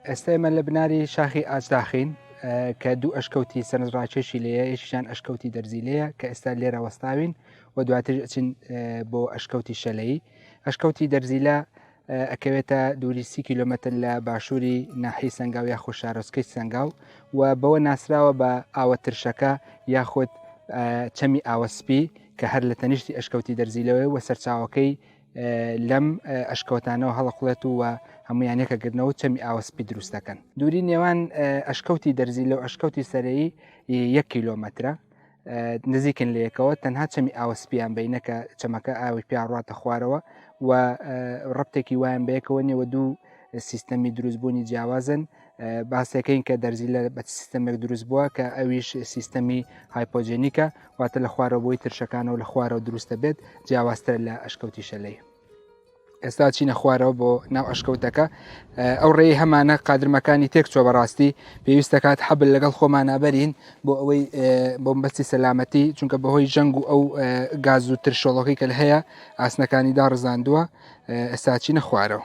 ئێستا ئێمە لە بناری شاخی ئاجداخین کە دوو ئەشکەوتی سەرنجڕاکێشی لەیە یەکیشان ئەشکەوتی دەرزی لەیە کە ئێستا لێرە وەستاوین و دواتر چین بۆ ئەشکەوتی شەلەی ئەشکەوتی دەرزیلا ئەکەوێتە دووری سی کیلومتر لە باشووری ناحی سەنگاو یاخود شارۆچکەی سەنگاو و بەوە ناسراوە بە ئاوە ترشەکە یاخود چەمی ئاوە سپی کە هەر لە تەنیشتی ئەشکەوتی دەرزیلەوەی وە سەرچاوەکەی لەم ئەشکەوتانەوە هەڵەقڵێت و وە هەمویان یەکەگرنەوە چەمی ئاوەسپی دروست دەکەن دووری نێوان ئەشکەوتی دەرزی لەو ئەشکەوتی سەرەی یەک کیلۆمەترە نزیکن لەکەوە تەنها چەمی ئاوە سپیان بینەکە چەمەکە ئاوی پیاڕاتە خوارەوە و ڕپتێکی وایان بەیەکەوە نێوە دوو سیستەمی دروستبوونی جیاوازن باسەکەین کە دەرزی لە بە سیستەمێک دروست بووە کە ئەویش سیستەمی هایپۆجێنیکە واتە لە خوارەوەی ترشەکانەوە لە خوارەوە دروستە بێت جیاوازتر لە ئەشکەوتی شەلەی. ئێستا چینە خوارەوە بۆ ناو ئەشکەوتەکە ئەو ڕێی هەمانە قادرمەکانی تێک چۆ بەڕاستی پێویستەکات حەبل لەگەڵ خۆمانابەرین بۆ ئەوەی بۆمبەستی سەلامەتی چونکە بەهۆی جەنگ و ئەو گاز و ترشۆڵەکەی کە هەیە ئاسنەکانی داڕزاندووە ئێستا چینە خوارەوە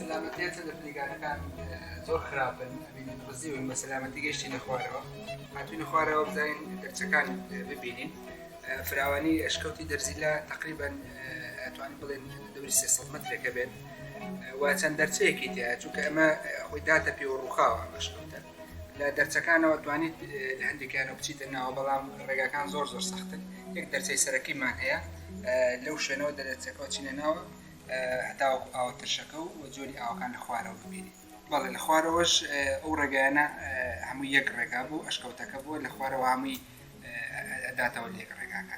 سەلامەتیاتە لە پلیگانەکان زۆر خراپن ئەبینین ڕزیون بە سەلامەتی گەشتینە خوارەوە هاتوینە خوارەوە بزانین دەرچەکان ببینین فراوانی ئەشکەوتی دەرزیلا تقریبان ئەتوانین بڵێن دەوری سێ مترێکە بێت و چەند دەرچەیەکی تیا چونکە ئەمە خۆی داتە پێوە ڕووخاوە ئەشکەوتە لە دەرچەکانەوە توانیت لە هەندێکیانە بچیتە ناوە بەڵام ڕێگاکان زۆر زۆر سەختن یەک دەرچەی سەرەکیمان هەیە لەو شوێنەوە دەرچەکەەوە چینە ناوە هەتاوەکو ئاوە ترشەکە و جۆری ئاوەکان لە خوارەوە ببینین. بەڵێ لە خوارەوەش ئەو ڕێگایانە هەمووی یەک ڕێگا بوو، ئەشکەوتەکە بووە لە خوارەوە هەمووی ئەداتەوە لە یەک ڕێگاکە.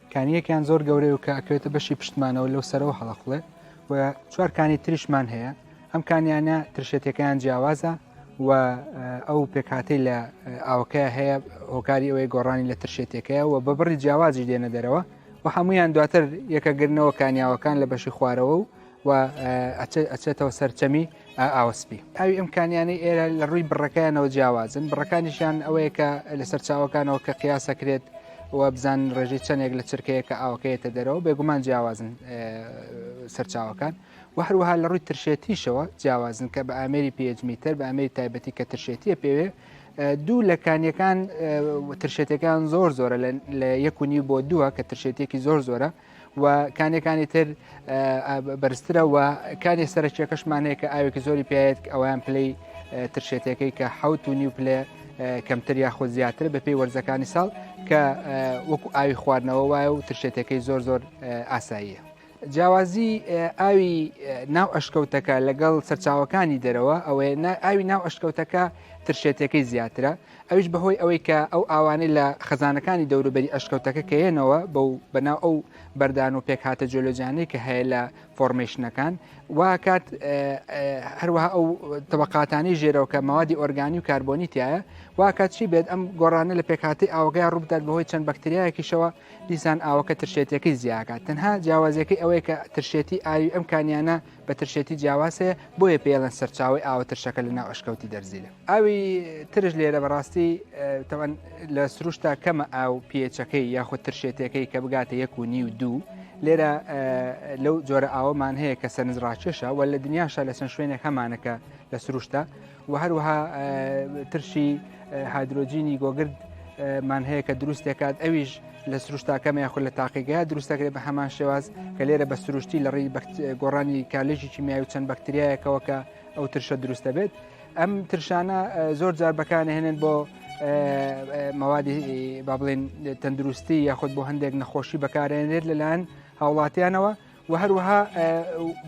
کانییەکیان زۆر گەورەی و کە ئەکەوێتە بەشی پشتمانەوە لەو سەرەوە هەڵەخڵێ و چوار کانی تریشمان هەیە ئەم کانیانە ترشێتەکەیان جیاوازە و ئەو پێکاتی لە ئاوکە هەیە هۆکاری ئەوەی گۆڕانی لە ترشێتەکەیە و بە بڕی جیاوازی دێنە دەرەوە و هەمویان دواتر یەکەگرنەوە کانیاوەکان لە بەشی خوارەوە و و ئەچێتەوە سەر چەمی ئاوە سپی ئاوی ئەم کانیانەی ئێرە لە ڕووی بڕەکەیانەوە جیاوازن بڕەکانیشیان ئەوەیە کە لەسەر چاوەکانەوە کە قیاسەکرێت و بزان ڕێژەی چەندێک لە چرکەیە کە ئاوکەیەتە دەرەوە بێگومان جیاوازن سەرچاوەکان و هەروەها لە ڕووی ترشێتیشەوە جیاوازن کە بە ئامری پێجمیتەر بە ئامری تایبەتی کە ترشێتیە پێوێ دوو لە کانیەکان ترشێتەکان زۆر زۆرە لە یەک و نیو بۆ دووە کە ترشێتێکی زۆر زۆرە و کانێ کانی تر بەرزترە و کانی سەرچیەکەشمانەیە کە ئاوێکی زۆری پێێت ئەویان پلەی ترشێتەکەی کە حوت و نیو پلێ کەمتر یاخۆ زیاتر بە پێی وەرزەکانی ساڵ کە وەکو ئاوی خواردنەوە وایە و ترشێتەکەی زۆر زۆر ئاساییە. جیاوازی ئاوی ناو ئەشکەوتەکە لەگەڵ سەرچاوەکانی دەرەوە ئەوەیە ئاوی ناو ئەشکەوتەکە ترشێتەکەی زیاترە ئەویش بەهۆی ئەوەی کە ئەو ئاوانەی لە خەزانەکانی دەوروبەری ئەشکەوتەکە کەیەنەوە بەو بەناو ئەو بەردان و پێکهاتە جۆلۆجانەی کە هەیە لە فۆرمەیشنەکان واکات هەروەها ئەو تەبقاتانی ژێرەوە کە ماوادی ئۆرگانی و کاربۆنی تایە واکات چی بێت ئەم گۆڕانە لە پێکهاتی ئاوگای ڕووبدات بەهۆی چەند بەکتریایەکیشەوە دیسان ئاوەکە ترشێتەکەی زیاکات تەنها جیاوازەکەی ئەوەیە کە ترشێتی ئاوی ئەم کانیانە بە ترشێتی جیاوازەیە بۆیە پێڵەن سەرچاوی ئاوە ترشەکە لە ناو ئەشکەوتی دەرزیلە ئاوی ترش لێرە بەڕاستی تەوان لە سروشتا کەمە ئاو پێچەکەی یاخود ترشێتەکەی کە بگاتە یەک و نی و دوو لێرە لەو جۆرە ئاوەمان هەیە کە سەرنج ڕاکێشە و لە دنیاشە لە چەند شوێنێک هەمانەکە لە سروشتا و هەروەها ترشی هادرۆجینی گۆگرد مان هەیە کە دروست دەکات ئەویش لە سروشتاکەمە یاخود لە تاقیگەیا دروستەکرێت بە هەمان شێواز کە لێرە بە سروشتی لە ڕێی گۆڕانی کالژی کیمیای و چەند بەکتریایەکەوە کە ئەو ترشە دروستە بێت ئەم ترشانە زۆر جار بەکانهێنن بۆ مەوادی با بڵێن تەندروستی یاخود بۆ هەندێک نەخۆشی بەکارێنێت لەلایەن هاوڵاتیانەوە و هەروەها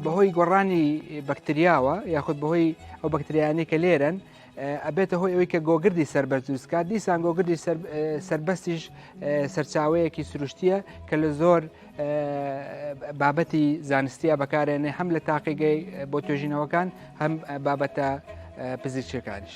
بەهۆی گۆڕانی بەکتریاوە یاخود بەهۆی ئەو بەکتریانەی کە لێرن ئەبێتە هۆی ئەوی کە گۆگردی سربەر دروستکات دیسان گۆگردی سربەستیش سەرچاوەیەکی سروشتیە کە لە زۆر بابەتی زانستیە بەکارێنێ هەم لە تاقیگەی بۆ توێژینەوەکان هەم بابەتە پزیشکەکانیش.